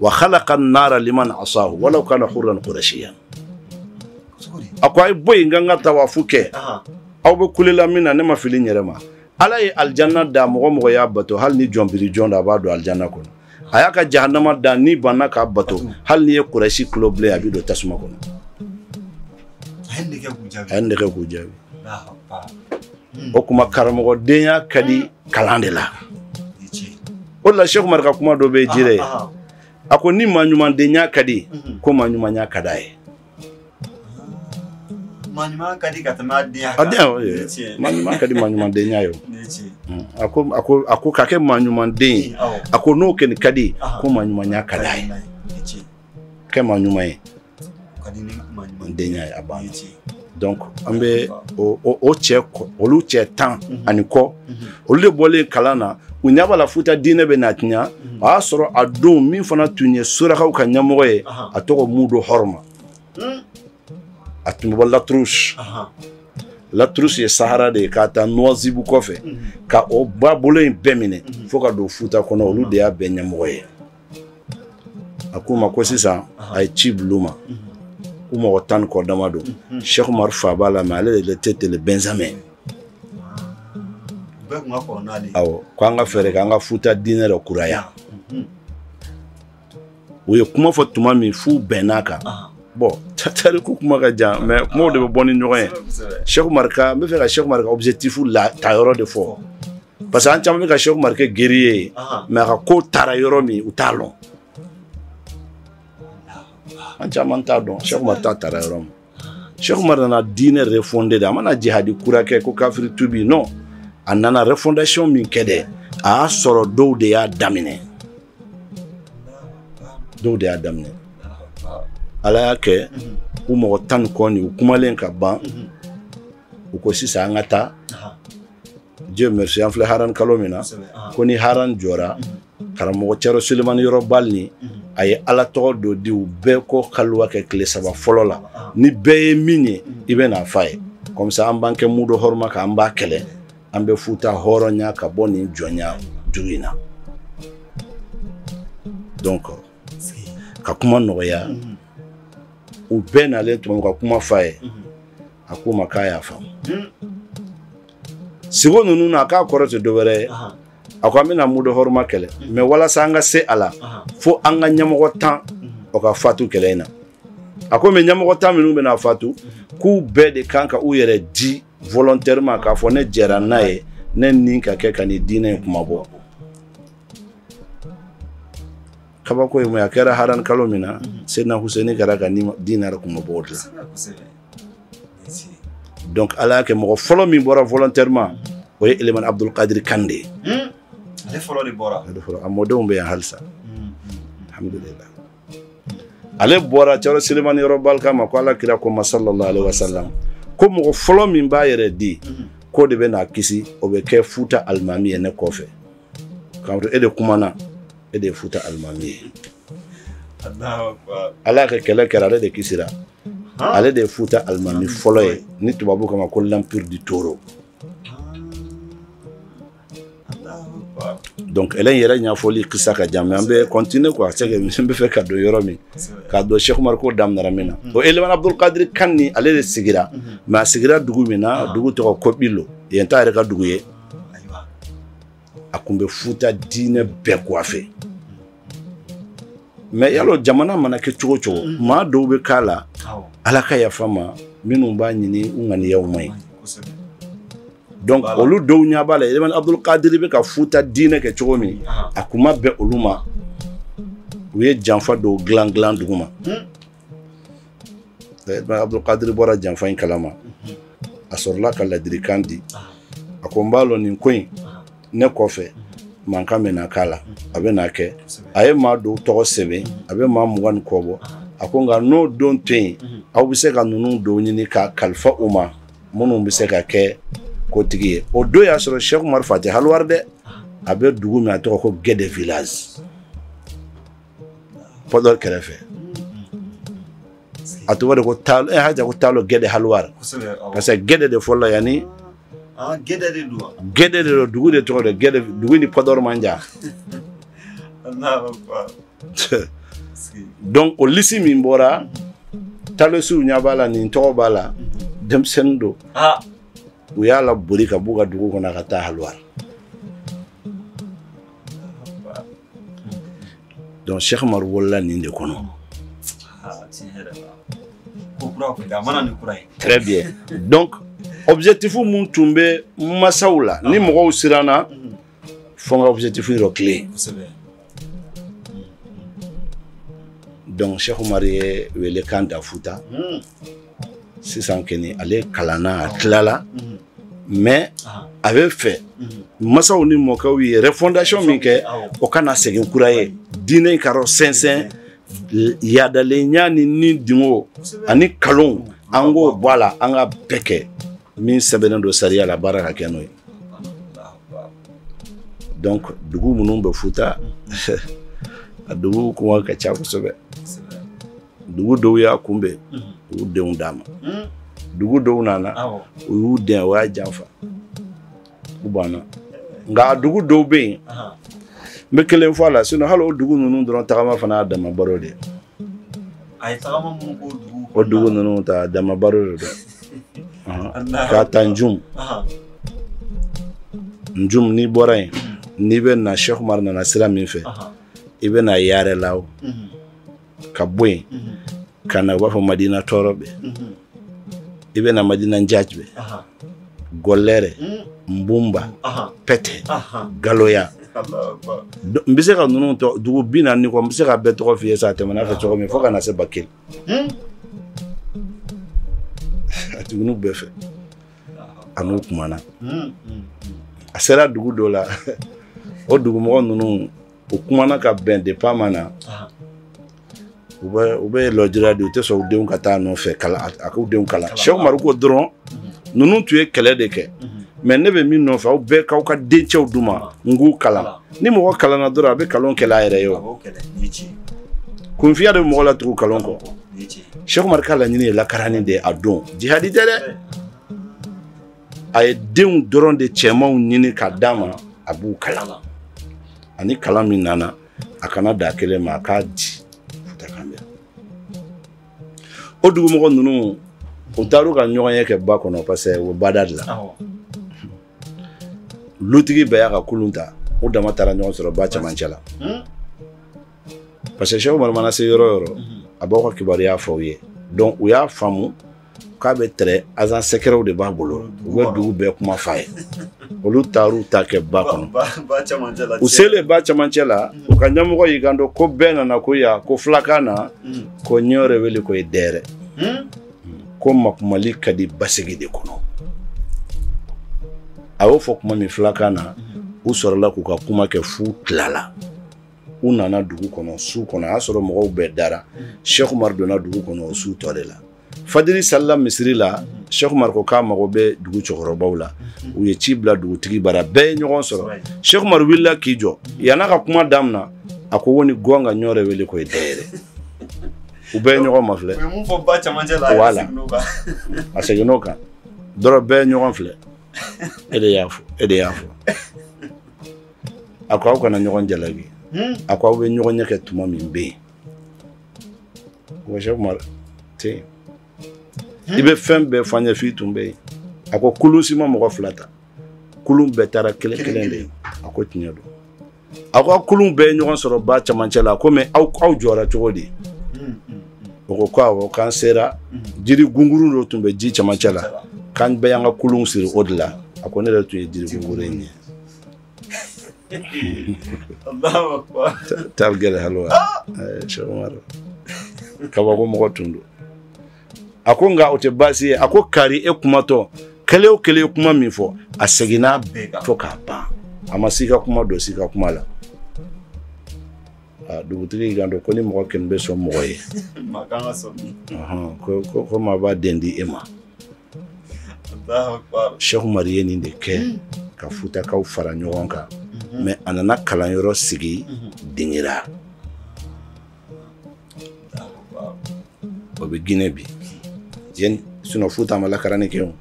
wa khalaqa an-nara liman asahu walau kana hurran qurashiyan a ko a ye bɔ yen n ka n ka tawafu kɛ aw bɛ kulela mun na ne ma fili n yɛrɛ ma ala ye alijanna da mɔgɔ mɔgɔ y'a bato hali ni jɔnbiri jɔn da a b'a don alijanna kɔnɔ a y'a ka jahanama da n'i banna k'a bato hali n'i ye kurasi golo bilen a bɛ don tasuma kɔnɔ a ye nin kɛ k'u jaabi a ye nin kɛ k'u jaabi o kuma karamɔgɔdenya ka di kalan de la o la Seku Umaru ka kuma dɔ bɛ jire ye a ko ni maa ɲumandenya ka di mhm. ko maa ɲumanya ka d'a ye maa ɲuman ka di ka tɛmɛ a denya kan maa ɲuman ka di maa ɲumandenya ye mm. a ko a ko a ko ka kɛ maa ɲumanden ye a ko n'o kɛni ka di ko maa ɲumanya ka d'a ye kɛ maa ɲuman ye n denya ye a banna donc an bɛ o cɛ olu cɛ tan mhm. ani kɔ mhm. olu de bɔlen kalan na u ɲɛ b'a la futa diinɛ bɛna tiɲa mhm. o y'a sɔrɔ a don min fana tun ye surakaw ka ɲɛmɔgɔ ye a tɔgɔ mudo hɔrɔma hmm. a tun bɛ bɔ latrus latrus ye sahara de ye k'a ta nuwazibu kɔfɛ ka o babolo in bɛɛ minɛ fo ka don futa kɔnɔ olu de y'a bɛɛ ɲɛmɔgɔ ye a k'u ma ko sisan a ye ci bil'u ma ko mɔgɔ tan ni kɔ dama don Seku Umaru fa b'a la mais ale de était le benjamin awɔ ko an ka fɛɛrɛ kɛ an ka futa diinɛ dɔ kuraya u ye kuma fɔ tuma min f'u bɛnn'a kan bon tariku kuma ka jan mais kumaw de bɛ bɔ ni ɲɔgɔn ye Seku Umaru ka n bɛ fɛ ka Seku Umaru ka objectif la taayɔrɔ de fɔ parce que an caman bɛ ka Seku Umaru kɛ guerrier ye mais a ka ko taara yɔrɔ min u t'a lɔn an caman t'a dɔn Seku Umaru ta taara yɔrɔ min Seku Umaru nana diinɛ refonder de a ma na jihadi kura kɛ ko kafiri tuubi non a nana refondation min kɛ dɛ a y'a sɔrɔ dɔw de y'a daminɛ dɔw de y'a daminɛ ala y'a kɛ u mɔgɔ tan ni kɔ nin u kumalen ka ban u ko sisan an ka taa Dieu merci an filɛ haran kalo min na ko ni haran jɔra karamɔgɔ Cɛrɔ Sulemani Yɔrɔ Bal ni a ye Ala tɔgɔ dɔ di u bɛɛ ko kaluwa kɛ tile saba fɔlɔ la ni bɛɛ ye min ye i bɛ n'a f'a ye comme ça an b'an kɛ mudo hɔrɔma kan an b'a kɛlɛ an bɛ futa hɔrɔnya ka bɔ nin jɔnya juru in na donc ka kuma nɔgɔya u bɛɛ nalen tuma ka kuma f'a ye a k'u ma k'a y'a faamu siko ninnu na k'a kɔrɔ tɛ dɔwɛrɛ ye a ko an bɛna mudo hɔrɔma kɛlɛ mais walasa an ka se a la fo an ka ɲɛmɔgɔ tan o ka fatu kɛlɛ in na a ko mais ɲɛmɔgɔ tan minnu bɛna fatu k'u bɛɛ de kan ka u yɛrɛ di volontairement k'a fɔ ne jɛra n'a ye ne ni ka kɛ ka nin diinɛ in kunmabɔ kabako ye mun ye a kɛra haran kalo min na Seyidina Huseni kɛra ka diinɛ kunmabɔ o de la donc ala y'a kɛ mɔgɔ fɔlɔ min bɔra volontairement o ye elemani abdulkadiri kan de ye hmm. a mɔdenw bɛ yan halisa hmm. alhamdulillah ale bɔra cɛrno selemani yɔrɔ bali k'a ma ko ala kira ko n ma sallallahu alaihi wasallam ko mɔgɔ fɔlɔ min b'a yɛrɛ di hmm. k'o de bɛna kisi o bɛ kɛ futa alimami ye ne kɔfɛ k'a to e de kumana e de ye futa alimami ye ala y'a kɛ kɛlɛ kɛra ale de kisira ale de ye futa alimami fɔlɔ ye ni tubabu k'a ma ko l'empire du toro donc kɛlɛ in yɛrɛ ɲɛfɔli kisa ka jan mais an bɛ continuer quoi c'est que n bɛ fɛ ka don yɔrɔ min k'a dɔn Cheikh Umar ko daminɛra min na o Elimane Abdul Kadiri kan ni ale de sigira mais a sigira dugu min na dugu tɔgɔ Kɔbilo yen t'a yɛrɛ ka dugu ye a kun bɛ futa diinɛ bɛɛ coiffer mais y'a lɔn jamana mana kɛ cogo cogo mm. maa dɔw bɛ k'a la ala ka yafa an ma minnu b'a ɲini u ŋaniyaw man ɲi donc olu dɔw ɲɛ b'a la elimani abdul kadiri bɛ ka futa diinɛ kɛ cogo min a kun ma bɛn olu ma u ye janfa dɔw dilan dilan duguma hmm? abdulkadiri bɔra janfa in kalama a sɔrɔla ka ladilikan di a ko n b'a lɔn nin ko in ne kɔfɛ mankan bɛna k'a la a bɛna kɛ a ye maa dɔw tɔgɔ sɛbɛn a bɛ maa mugan ni kɔ bɔ a ko nka n'o don to yen aw bɛ se ka ninnu dɔw ɲini k'a kalifa u ma minnu bɛ se ka kɛ kotigi ye o don y'a sɔrɔ Cheikh Umar fa tɛ haliwari dɛ a bɛ dugu min a tɔgɔ ko gɛdɛ village pɔdɔri kɛrɛfɛ a tɔgɔ de ko taalo eh, hali ko taalo gɛdɛ haliwari parce que gɛdɛ de fɔlɔ yanni ah, gɛdɛ de don gɛdɛ de don dugu de tɔgɔ de gɛdɛ dugu ni pɔdɔri man jan donc o lisi min bɔra talosiw ɲa b'a la nin tɔgɔ b'a la denmisɛnnin don ah. u y'a laboli ka b'u ka dugu kɔnɔ ka taa haliwari donc Cheikh Umaru wolola nin de kɔnɔ très bien donc objectif mun tun bɛ masaw la ni mɔgɔw siranna fo n ka objectif yɔrɔ clé donc Cheikh Umaru ye welekan da futa sisan kɔni ale kalanna a tilala mais a bɛ fɛ masaw ni mɔkɛw ye refondation min kɛ o kana segin kura ye diinɛ in k'a rɔ sɛnsɛn yadalenya ni nidungo ani kalon an k'o bɔ a la an ka bɛɛ kɛ min sɛbɛnnen don sariya la baara ka kɛ n'o ye donc dugu minnu bɛ futa a dugu kuma ka ca kosɛbɛ dugu dɔw y'a kunbɛn u y'u denw d'a ma dugu dɔw nana u y'u den o y'a janfa u banna nka a dugu dɔw bɛ yen n bɛ kelen fɔ a la sinon hali o dugu ninnu dɔrɔn tagama fana y'a dama baro de ye o dugu ninnu ta dama baro de don k'a ta njum njum n'i bɔra yen n'i bɛ na Cheikh Umar nana sira min fɛ i bɛ na Yaarɛ Lao ka bɔ yen ka na u b'a fɔ madina tɔɔrɔbɛ i bɛ na madina njacibɛ golere nbumba pɛtɛ galoya n bɛ se ka ninnu tɔ dugu bi naani ni kɔ n bɛ se ka bɛɛ tɔgɔ f'i ye sa a tɛmɛna fɛ cogo min fo ka na se bakeli a dugu ninnu bɛɛ fɛ a n'u kumana a sera dugu dɔ la o dugumɔgɔ ninnu u kumana ka bɛn depuis a ma na u bɛ u bɛɛ lajɛra de u tɛ sɔn u denw ka taa a nɔfɛ kalan a k'u denw kalan Cheikh Umar ko dɔrɔn ninnu tun ye kɛlɛ de kɛ mais ne bɛ min nɔfɛ aw bɛɛ k'aw ka dencɛw di n ma n k'u kalan ni mɔgɔ kalanna dɔrɔn a bɛ kalon kɛlɛ a yɛrɛ ye o kunfinya de bɛ mɔgɔ latugu kalon kɔ Cheikh Umar ka laɲini ye lakaranni de ye a don jihadi tɛ dɛ a ye denw dɔrɔn de cɛmanw ɲini ka d'a ma a b'u kalan la ani kalan min nana a kana da kelen ma a k'a di futa kan bɛ o dugumɔgɔ ninnu u taar'u ka ɲɔgɔnye kɛ ba kɔnɔ parce que o bada de la lutigi bɛɛ y'a ka kulun ta u dama taara ɲɔgɔn sɔrɔ ba cɛmancɛ la hmm? parce que Cheikh Umar mana se yɔrɔ o yɔrɔ hmm. a b'aw ka kibaruya fɔ u ye donc u y'a faamu k'a bɛ tɛrɛ azan sɛkɛrɛw de b'a bolo u bɛ dugu bɛɛ kuma f'a ye olu taar'u ta kɛ ba kɔnɔ u selen ba cɛmancɛ la u ka ɲɛmɔgɔ y'i kanto ko bɛɛ nana ko ya ko fulakan na hmm. ko ɲɔɔrɛ weli ko ye dɛyɛrɛ hmm? ko makumali ka di basigi de kɔnɔ a y'o fɔ kuma min fulakan na hmm. u sɔrɔla k'u ka kuma kɛ f'u tilala u nana dugu kɔnɔ su kɔnɔ a y'a sɔrɔ mɔgɔw bɛɛ dara Cheikh Umar donna dugu kɔnɔ o su tɔ de la fajiri salila misiri la Cheikh Umar ko k'a mago bɛ dugu cɛkɔrɔbaw la u ye ci bila dugutigi bara bɛɛ ye ɲɔgɔn sɔrɔ Cheikh Umar wulila k'i jɔ yann'a ka kuma damina a ko woni goonga ɲɔɔrɛ weli ko ye dɛyɛrɛ u bɛɛ ye ɲɔgɔn mafilɛ u ye mun fɔ ba cɛmancɛ la a seginna o kan a seginna o kan dɔrɔn bɛɛ ye ɲɔgɔn filɛ e de y'a fɔ e de y'a fɔ a ko aw kana ɲɔgɔn jalaki hmm? a ko aw bɛ ɲɔgɔnye kɛ tuma min bɛ yen o sɛku umar tɛ yen i bɛ fɛn bɛɛ fɔ an ye f'i tun bɛ yen a ko kulun si ma mɔgɔ fila ta kulun bɛɛ taara kelen kelen de ye a ko tiɲɛ don aw ka kulun bɛɛ ye ɲɔgɔn sɔrɔ ba camancɛ la ko mais aw aw jɔra cogo di o ko ko awɔ k'an sera jiri gunguru dɔ tun bɛ ji camancɛ la k'an bɛɛ y'an ka kulunw siri o de la a ko ne yɛrɛ tun ye jiri gunguru in ye Alahu akibaru. Taal Gɛdɛ Haliwar. Ɛɛ Sɛki Umaru, kabako mɔgɔ tun don. A ko nka o tɛ baasi ye, a ko kari e kumatɔ, kelen o kelen ye kuma min fɔ, a seginna a bɛɛ kan fo k'a ban. A ma si ka kuma don si ka kuma la. Aa dugutigi y'i kanto ko ni mɔgɔ kɛmɛ bɛ sɔn mɔgɔ ye. Maa ka kan ka sɔn min ma. Ɔnhɔn, ko ko maa b'a den di e ma. Sɛku Umaru ye nin de kɛ ka futakaw fara ɲɔgɔn kan mais a nana kalanyɔrɔ sigi dingira o bɛ Gine bi jeni sinon futa ma lakarani kɛ o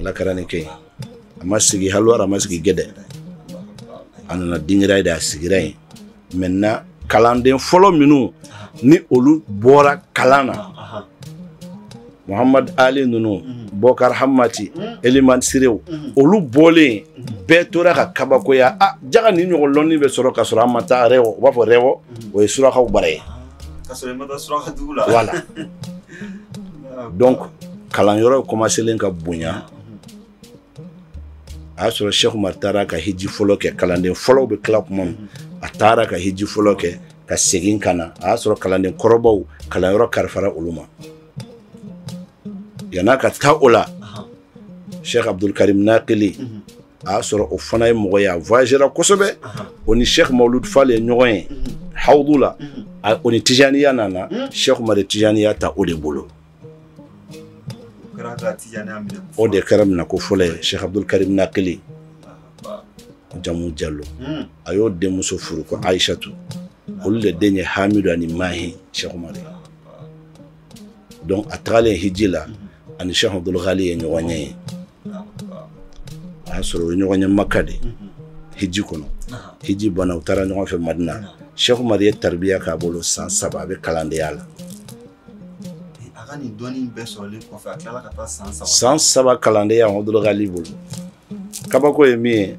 lakarani kɛ a ma sigi haliwari a ma sigi gɛdɛ a nana dingira yen de a sigira yen maintenant kalanden fɔlɔ minnu ni olu bɔra kalan na muhamadu ali ninnu mhm. bɔkari hamati mhm. elimani sirew mhm. olu bɔlen bɛɛ tora ka kabakoya a ah, jaga nin ɲɔgɔn lɔnni bɛ sɔrɔ ka sɔrɔ an ma taa rɛwɔ u b'a fɔ rɛwɔ o ye surakaw bara ye voilà donc kalanyɔrɔ kɔmaselen ka bonya a y'a sɔrɔ sheikh umar taara ka hiji fɔlɔ kɛ kalanden fɔlɔw bɛ tila kuma min a taara ka hiji fɔlɔ kɛ ka segin ka na a y'a sɔrɔ kalanden kɔrɔbaw kalanyɔrɔ kalifara olu ma yan'a ka taa o la sheikh abdulkarim nakili a y'a sɔrɔ o fana ye mɔgɔ ye a voyagera kosɛbɛ o ni sheikh mawlud fal ye ɲɔgɔn ye hawudu la o ni tijaniya nana sheikh umar ye tijaniya ta o de bolo o de kɛra minɛko fɔlɔ ye sɛku abudul karim nakili jamu jalo hmm. a y'o denmuso furu ko ayisatu olu de den ye hamidu ani mahi sɛku umari donc a tagalen hiji la a ni sɛku abudul ghali ye ɲɔgɔn ye yen a y'a sɔrɔ u ye ɲɔgɔn ye maka de hmm. hiji kɔnɔ hiji banna u taara ɲɔgɔn fɛ madina sɛku umari ye taribiya k'a bolo san saba a bɛ kalandenya la a ka nin dɔnni bɛɛ sɔrɔlen kɔfɛ a tilala ka taa san saba san saba kalandenya abdul ghali bolo kabako ye min ye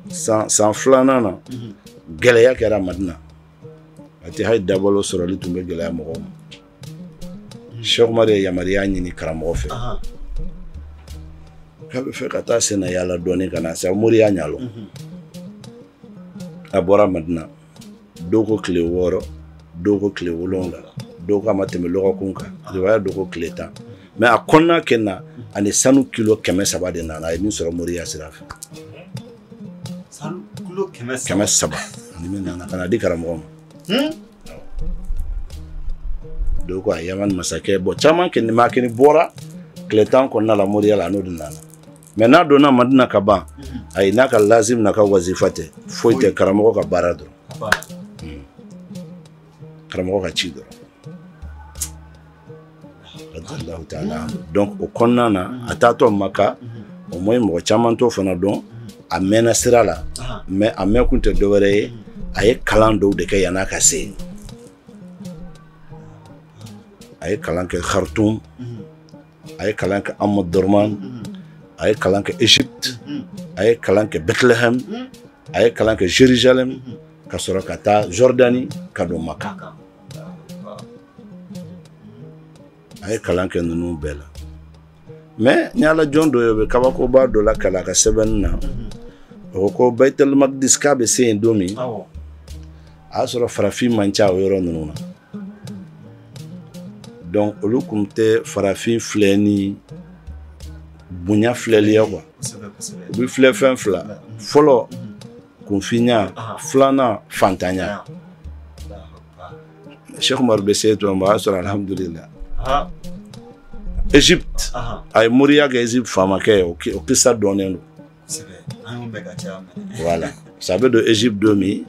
san san filanan na gɛlɛya kɛra madina a tɛ hali dabalo sɔrɔli tun bɛ gɛlɛya mɔgɔw ma sheikh umaru ye yamaruya ɲini karamɔgɔ fɛ k'a bɛ fɛ ka taa sen na yaala dɔɔnin ka na sa moriya ɲalo a bɔra madina dɔw ko tile wɔɔrɔ dɔw ko tile wolonwula dɔw ko a ma tɛmɛ lɔgɔkun kan riwaya dɔw ko tile tan mais a kɔnɔna kɛ na a ni sanu kilo kɛmɛ saba de nana a ye min sɔrɔ moriya sira fɛ kɛmɛ saba a ni min nana ka na di karamɔgɔ ma hmm? dɔw ko a yamani masakɛ bɔn caman kɛ ni makini bɔra tile tan kɔnɔna la moriya la a n'o de nana mais n'a donna madina ka ban ayi n'a ka lazim n'a ka wazifa tɛ foyi tɛ karamɔgɔ ka baara dɔrɔn hmm. karamɔgɔ ka ci dɔrɔn radiyallahu taala donc o kɔnɔna na a taatɔ maka au moins mɔgɔ caman t'o fana dɔn a mɛnna sira la mais a mɛn kun tɛ dɔwɛrɛ ye a ye kalan dɔw de kɛ yan'a ka se yen a ye kalan kɛ khartum a ye kalan kɛ omdurman a ye kalan kɛ egypte a ye kalan kɛ bethlehem a ye kalan kɛ jerusalem ka sɔrɔ ka taa jordanie ka don maka a ye kalan kɛ ninnu bɛɛ la mais ni ala jɔn dɔ ye o bɛ kabakoba dɔ lakal'a ka sɛbɛnni na o ko ko baitel magdis k'a bɛ se yen don min a y'a sɔrɔ farafin man ca o yɔrɔ ninnu na donc olu kun tɛ farafin filɛ ni bonya filɛli ye quoi u b'i filɛ fɛn fila fɔlɔ kunfinya filanan fantanya sheikh umaru bɛ se tuma min a y'a sɔrɔ alihamudulila egypte a ye moriya kɛ egypte faamakɛ ye o kisa dɔnnen don voilà sa a bɛ don egypte don min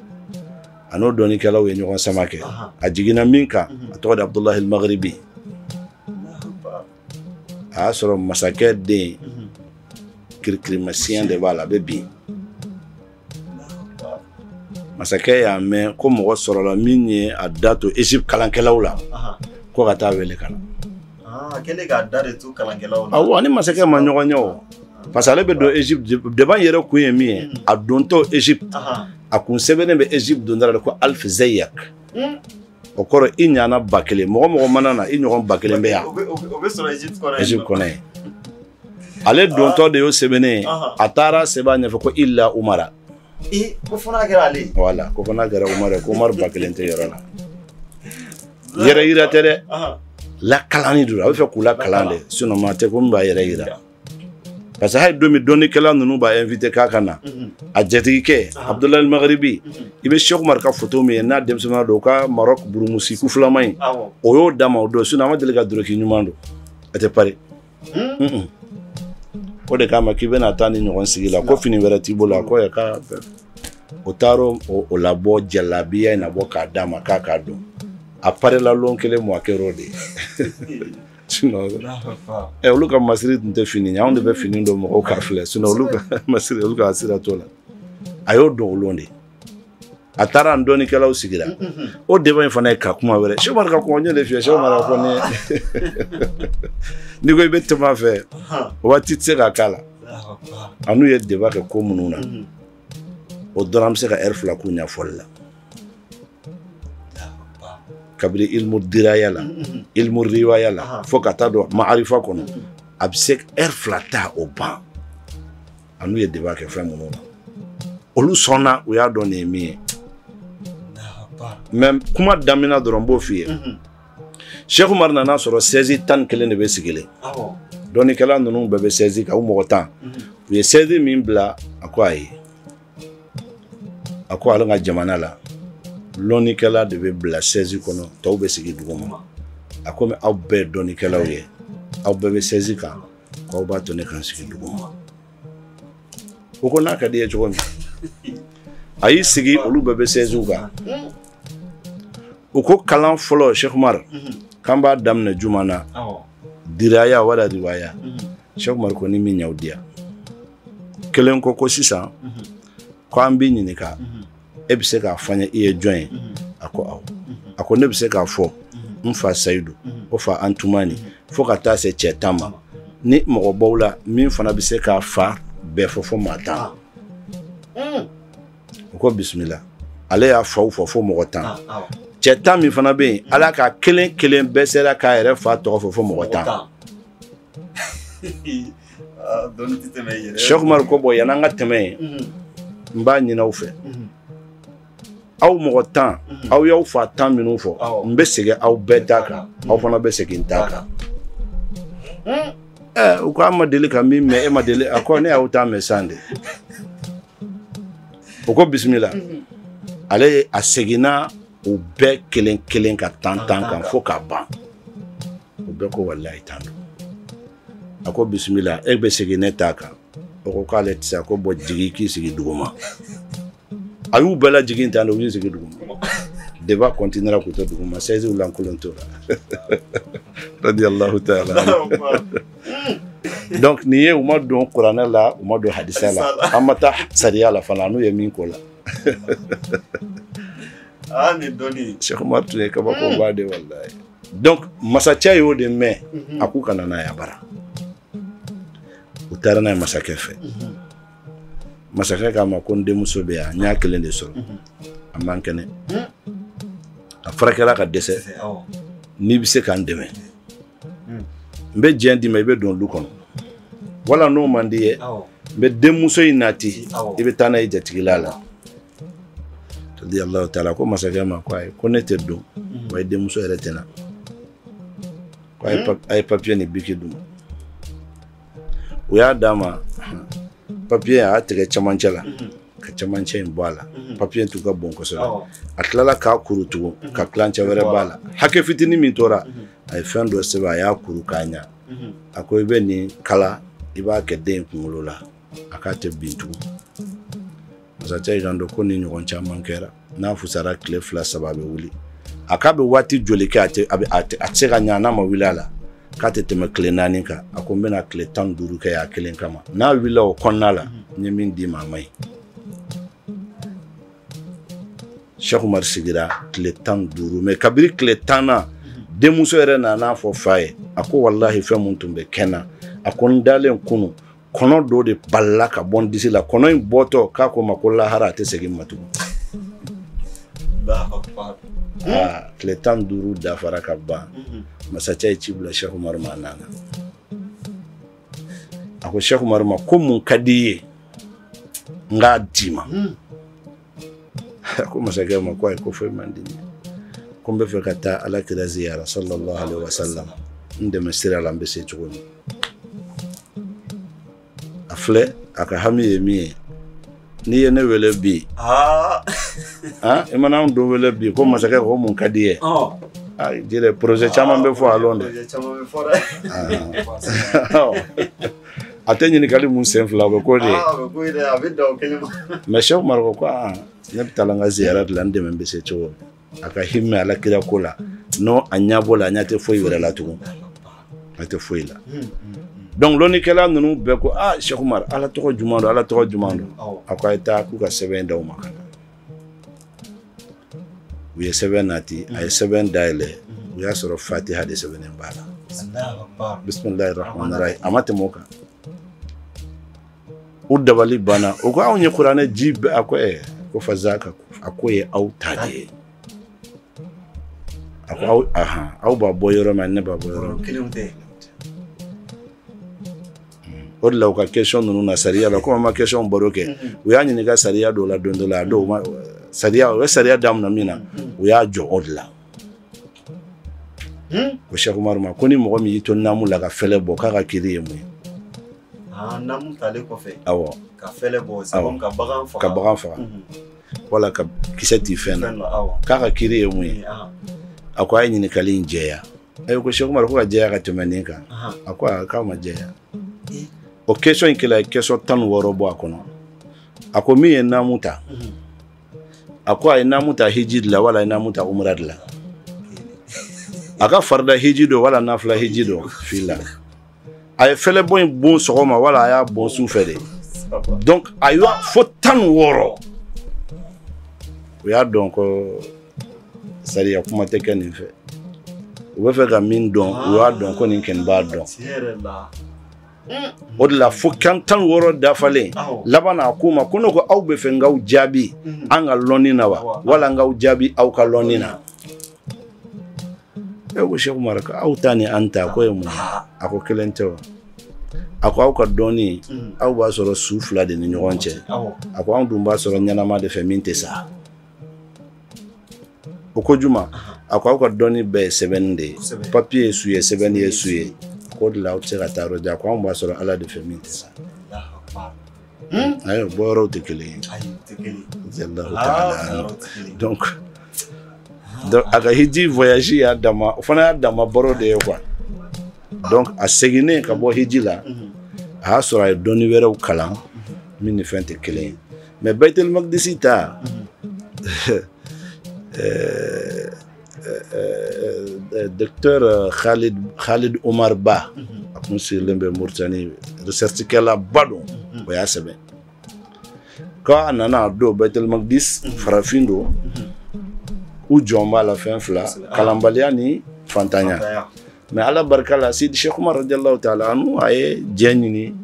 a n'o dɔnnikɛlaw ye ɲɔgɔn sama kɛ a jiginna min kan a tɔgɔ de abudulahi al-maghribi a y'a sɔrɔ masakɛ den kirikirimasiyɛn de b'a la a bɛ bin masakɛ y'a mɛn ko mɔgɔ sɔrɔla min ye a da to egypte kalankɛlaw la ko ka taa wele ka na Aa kɛlen k'a da de to kalankɛlaw la. Awɔ a ni masakɛ ma ɲɔgɔn ye o. Parce que ale bɛ don Egypte debat in yɛrɛ kun ye min ye, unhun, a dontɔ Egypte, anhan, a kun sɛbɛnnen bɛ Egypte donda la de ko Alf Zeyak. Un! O kɔrɔ i ɲana 1000, mɔgɔ mɔgɔ mana na i ɲɔgɔn 1000 bɛ yan. O bɛ o bɛ sɔrɔ Egypte kɔnɔ yen. Egypte kɔnɔ yen. Ale dontɔ de y'o sɛbɛnnen ye, anhan, a taara sɛbɛn a ɲɛfɛ ko Illa Umara. ee ko fana kɛra ale ye wala ko fana kɛra umaru ye ko umaru ba kelen tɛ yɔrɔ la yɛrɛ yira tɛ dɛ lakalani don a b'a fɛ k'u lakalan de sinɔn maa tɛ ko min b'a yɛrɛ yira parce que hali don min dɔnnikɛla ninnu b'a invité k'a ka na a jatigikɛ abudulayi magaribi i bɛ sɛki umaru ka foto min ye n'a denmisɛnninya don u ka marɔk burumusi kufilama in o y'o d'a ma o don sinɔn a ma deli ka doroki ɲuman don a tɛ pari Hmm? o de k'a ma k'i bɛna taa nin ɲɔgɔn sigi la ko fini wɛrɛ t'i bolo a ko yɛ k'a o taara o labɔ jalabiya in nabɔ k'a d'a ma k'a k'a don a parela lon kelen min a kɛra o de ye olu ka masiri tun tɛ fini ye anw de bɛ fini don mɔgɔw k'a filɛ sinɔn olu ka masiri olu ka sira t'o la a y'o don o lon de a taara a ni dɔnnikɛlaw sigira o deba in fana ye ka kuma wɛrɛ sɛki umaru ka kuma ɲɛ de f'i ye sɛki umaru ko ne n'i ko i bɛ tɛmɛ a fɛ waati tɛ se ka k'a la a n'u ye deba kɛ ko minnu na o dɔrɔn an bɛ se ka ɛri fila k'u ɲɛfɔli la kabiri ilimu diraya la ilimu riwaya la fo ka taa don maarifa kɔnɔ a bɛ se ɛri fila ta o ban a n'u ye deba kɛ fɛn minnu na olu sɔnna u y'a dɔn nin ye min ye mɛ kuma daminɛ dɔrɔn n b'o f'i ye mhm. sɛki umaru nana a sɔrɔ sɛzi tan ni kelen de bɛ sigilen dɔnnikɛla ninnu bɛɛ bɛ sɛzi kan u mɔgɔ tan mhm. u ye sɛzi min bila a ko ayi a ko ale ka jamana la lɔnnikɛla de bɛ bila sɛzi kɔnɔ tɔw bɛ sigi duguma a komi aw bɛɛ dɔnnikɛlaw ye aw bɛɛ bɛ sɛzi kan Aw b'a to ne ka sigi duguma u ko n'a ka d'i ye cogo min a y'i sigi olu bɛɛ bɛ sɛziw kan u ko kalan fɔlɔ sɛki umaru k'an b'a daminɛ jumɛn na diraya wala riwaya sɛki umaru ko ni min y'aw diya kelen ko ko sisan ko an b'i ɲininka e bɛ se k'a fɔ n ye i ye jɔn ye a ko awɔ a ko ne bɛ se k'a fɔ n fa sayidu o fa antumani fo ka taa se cɛ tan ma ni mɔgɔ b'aw la min fana bɛ se k'a fa bɛɛ fɔ fo maa tan u ko bisimila ale y'a faw fɔ fo mɔgɔ tan cɛ tan min fana bɛ yen ala ka kelen kelen bɛɛ sera k'a yɛrɛ fa tɔgɔ fɔ fo mɔgɔ tan Ah, dɔnni tɛ tɛmɛ yɛrɛ Sɛki Umaru ko bɔn yan'an ka tɛmɛ yen n b'a ɲini aw fɛ aw mɔgɔ tan aw y'aw fa tan minnu fɔ n bɛ segin aw bɛɛ ta kan aw fana bɛ segin n ta kan u ko an ma deli ka min mɛn e ma deli a ko ne y'aw ta mɛn sisan de o ko bisimila ale a seginna u bɛɛ kelen kelen ka tan tan kan fo k'a ban u bɛɛ ko walayi tan don a ko bisimila e bɛ segin ne ta kan o ko k'ale tɛ se a ko bɔ jigi k'i sigi duguma a y'u bɛɛ lajigin tan de u y'u sigi duguma deba kɔntinera k'u to duguma sɛziw lankolon tora radiyallahu taala donc nin ye u ma don kuranɛ la u ma don hadisa la an ma taa sariya la fana n'u ye min ko la ah, Cheikh Omar tun ye kabakoba de walayi donc masakɛ y'o de mɛn mhm. a k'u ka na n'a ye a bara u taara n'a ye masakɛ fɛ mhm. masakɛ k'a ma ko n denmuso bɛ yan n y'a kelen de sɔrɔ mhm. a man kɛnɛ a furakɛla ka dɛsɛ n'i bɛ se k'an dɛmɛ n bɛ diɲɛ d'i ma i bɛ don lu kɔnɔ wala n'o man d'i ye n bɛ denmuso in nati i bɛ taa n'a y'i jatigila la radiyallahu taala ko masakɛ ma ko ayi ko ne tɛ don mm. wa i denmuso yɛrɛ tɛ na ko a ye hmm? papiye ni biki di n ma u y'a d'a ma papiye a y'a tigɛ cɛmancɛ la mm-hmm. ka cɛmancɛ in bɔ a la mm-hmm. papiye tun ka bon kosɛbɛ a tilala k'a kuru tugun ka tilancɛ wɛrɛ b'a la hakɛ fitinin min tora mm-hmm. a ye fɛn dɔ sɛbɛn a y'a kuru k'a ɲa a ko i bɛ nin kala i b'a kɛ den kunkolo la a k'a tɛ bin tugun masakɛ y'i kanto ko nin ɲɔgɔn caman kɛra n'a fusara tile fila saba a bɛ wuli a k'a bɛ waati joli kɛ a tɛ a bɛ a tɛ a tɛ se ka ɲa n'a ma wuli a la k'a tɛ tɛmɛ tile naani kan a ko n bɛna tile tan ni duuru kɛ a kelen kama n'a wulila o kɔnɔna la n ye min d'i ma a man ɲi Cheikh Omar sigira tile tan ni duuru mɛ kabini tile tan na denmuso yɛrɛ nana a fɔ fa ye a ko walahi fɛn min tun bɛ kɛ n na a ko n dalen kunun kɔnɔ dɔ de balala ka bɔ n disi la kɔnɔ in bɔtɔ k'a ko n ma ko lahara a tɛ segin n ma tugun tile tan ni duuru dafara ka ban masakɛ ye ci bila Cheikh Omar ma a nana a ko Cheikh Omar ma ko mun ka di i ye n k'a d'i ma a ko masakɛ ma ko ayi ko foyi man di n ye ko n b'a fɛ ka taa ala kira ziyara sallallahu alaihi wa sallam n dɛmɛ sira la n bɛ se cogo min a filɛ a ka hami ye min ye n'i ye ne wele bi ah. ah, i mana anw dɔ wele bi ko masakɛ ko mun ka d'i ye oh. ah, jire projet caman bɛ fɔ a lon dɛ a tɛ ɲininkali mun sen fila o bɛ ko de mais Cheikh Umar ko aa ne bɛ taa n ka ziyara de la n dɛmɛ n bɛ se cogo a ka himɛ ala kira ko la n'o a ɲɛbɔ la a ɲɛ tɛ foyi wɛrɛ la tugun a tɛ foyi la donc lɔnnikɛla ninnu bɛɛ ko aa Cheikh Umar ala tɔgɔ jumɛn don ala tɔgɔ jumɛn don a ko a ye taa k'u ka sɛbɛn d'aw ma ka na u ye sɛbɛn nati a ye sɛbɛn dayɛlɛ u y'a sɔrɔ fatiha de sɛbɛnnen b'a la bisimilahi rahmani rahim a ma tɛmɛ o kan u dabali banna u ko anw ye kuranɛ ji bɛɛ a ko ɛ ko fazaka a k'o ye aw ta de ye a ko aw ahan aw b'a bɔ yɔrɔ min ne b'a bɔ yɔrɔ min o de la u ka question ninnu na sariya la komi an ma question baro kɛ u y'a ɲininka sariya dɔw la don dɔ la a dɔw ma sariya u ye sariya daminɛ min na u y'a jɔ o de la ko Cheikh Umaru ma ko ni mɔgɔ min y'i to naamu la ka fɛlɛ bɔ k'a ka kiri ye mun ye ah, naamu talen kɔfɛ awɔ ka fɛlɛ bɔ sabu ka bagan faga ka bagan faga wala ka kisɛ ti fɛn na k'a ka kiri ye mun ye a ko a ye ɲininkali in jɛya a ko Cheikh Umaru ko k'a jɛya ka tɛmɛ nin kan a ko a k'aw m'a jɛya o question in kelen a ye question tan ni wɔɔrɔ bɔ a kɔnɔ a ko min ye naamu ta a ko a ye naamu ta hiji de la wala a ye naamu ta umra de la a ka farida hiji don wala nafila hiji don fila a ye fɛlɛbɔ in bon sɔgɔma wala a y'a bon su fɛ de donc a y'a fo tan ni wɔɔrɔ u y'a dɔn ko sariya kuma tɛ kɛ nin fɛ u bɛ fɛ ka min dɔn u y'a dɔn ko nin kɔni b'a dɔn o de la fo tan ni wɔɔrɔ dafalen laban a k'u ma ko ne ko aw bɛ fɛ n k'aw jaabi an ka lɔnni na wa wala n k'aw jaabi aw ka lɔnni na e ko Cheikh Umar ko aw ta ni an ta ko ye mun a ko kelen tɛ wa a ko aw ka dɔnni mm. aw b'a sɔrɔ su fila de ni ɲɔgɔn cɛ a ko anw dun b'a sɔrɔ ɲɛnama de fɛ min tɛ sa u ko juman a ko aw ka dɔnni bɛɛ ye sɛbɛnni de ye papier ye su ye sɛbɛnni ye su ye k'o de la aw tɛ se ka taa yɔrɔ jan ko anw b'a sɔrɔ ala de fɛ min tɛ sa Hmm? ayi bɔ yɔrɔw tɛ kelen ye ayi o tɛ kelen ye jɛndaw t'a la yɔrɔ tɛ kelen ye donc donc a ka hiji voyage y'a dama o fana y'a dama baro de ye quoi donc a seginnen ka bɔ hiji la a y'a sɔrɔ a ye dɔnni wɛrɛw kalan min ni fɛn tɛ kelen ye mais baitel magdisi ta Docteur Khalid Omar Ba a tun sigilen bɛ Mauritanie recherche kɛla ba don o y'a sɛbɛn k'a nana a don Baitul Maqdis farafin don u jɔn b'a la fɛn fila kalanbaliya ni fantanya mais Ala barika la Seydi Cheikh Oumar radiyallahu taala anhu a ye jɛ ɲini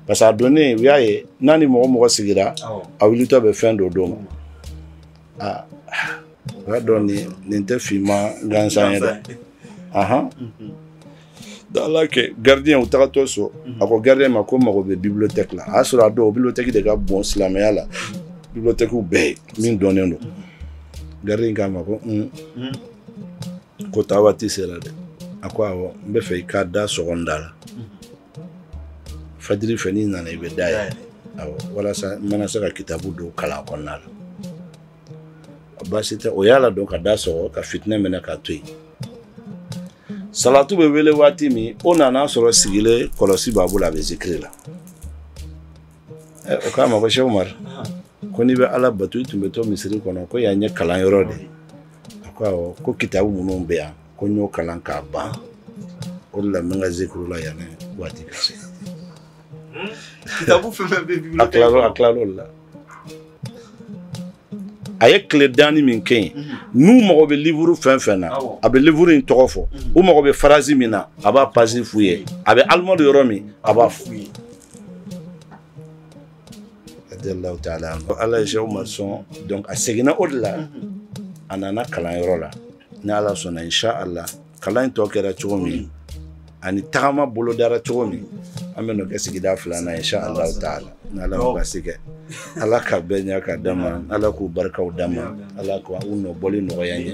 parce que a donnen u y'a ye n'a ni mɔgɔ mɔgɔ sigira a wulitɔ bɛ fɛn dɔ d'o ma. aa o y'a dɔn nin tɛ finma gansan ye dɛ ahan ala kɛ gardien u tagatɔ so a ko gardien ma ko mago bɛ bibliothèque la a y'a sɔrɔ a don o bibliothèque de ka bon silamɛya la bibliothèque bɛɛ ye min dɔnnen don gardien k'a ma ko un ko taa waati sera dɛ a ko awɔ n b'a fɛ i ka da sɔgɔ n da la fajiri fɛ n'i nana i bɛ da yɛlɛ awɔ walasa n mana se ka kitabu dɔw kalan kɔnɔna la baasi tɛ o y'a ladon ka da sɔgɔ ka fitinɛ mɛnɛ k'a to yen salatu bɛ wele waati min o nan'a sɔrɔ sigilen kɔlɔsi b'a bolo a bɛ zikiri la o k'a ma ko Cheikh Oumar ko n'i bɛ ala bato i tun bɛ to misiri kɔnɔ ko yan ye kalanyɔrɔ de ye a ko awɔ ko kitabu minnu bɛ yan ko n y'o kalan k'a ban o de la n bɛ n ka zikiri la yan waati ka se kitabu fɛn fɛn bɛ bibliothèque a tilal'o la a ye tile danni min kɛ yen mhm. n'u mago bɛ livre fɛn fɛn na a bɛ livre in tɔgɔ fɔ mhm. u mago bɛ phrase min na a b'a page f'u ye a bɛ armoire yɔrɔ min a b'a f'u ye radiyallahu taala anhu ala ye Cheikh Oumar sɔn donc a seginna o de la a nana kalanyɔrɔ la ni ala sɔnna inshallah kalan in tɔ kɛra cogo min ani tagama bolodara cogo min an bɛn'o kɛ sigida filanan ye inshallah taala ni ala ma basi kɛ ala ka bɛɛ ɲɛ ka d'a ma ala k'u barikaw d'an ma ala k'u nɔbɔli nɔgɔya an ye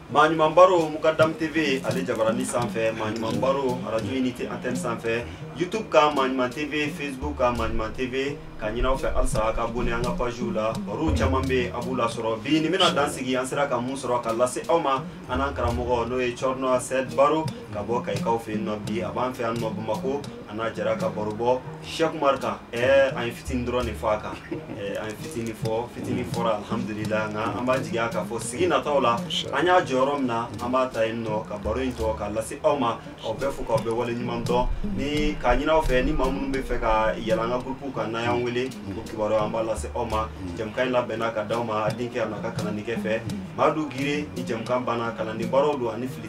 Maɲuman baro Mukadam TV ale jabarani sanfɛ Maɲuman baro radio unité antenne sanfɛ YouTube kan Maɲuman TV Facebook kan Maɲuman TV k'a ɲini aw fɛ halisa ka abonné an ka page la barow caman bɛ yen a b'u lasɔrɔ bi nin bɛna dan sigi an sera ka mun sɔrɔ ka lase aw ma an n'an karamɔgɔ n'o ye Thierno Saïd Baro ka bɔ Kayikaw fɛ yen nɔ bi a b'an fɛ yan nɔ Bamako an n'a jɛra ka baro bɔ Cheikh Oumar kan ɛɛ an ye fitini dɔrɔn de fɔ a kan ɛɛ an ye fitini fɔ fitini fɔra alhamdulila nka an b'a jigiya k'a fɔ sigi nataw la an y'a jɔ yɔrɔ min na an b'a ta yen nɔ ka baro in tɔ k'a lase aw ma aw bɛɛ fo k'aw bɛɛ wale ɲuman dɔn ni k'a ɲini aw fɛ ni maa minnu bɛ fɛ ka yɛlɛ an ka groupe kan n'aw y'an wele o kibaruya an b'a lase aw ma jɛmukan in labɛnna ka d'aw ma a denkɛ a n'a ka kalannikɛ fɛ Madu Gire ni jɛmukan banna kalanden baaraw don ani fili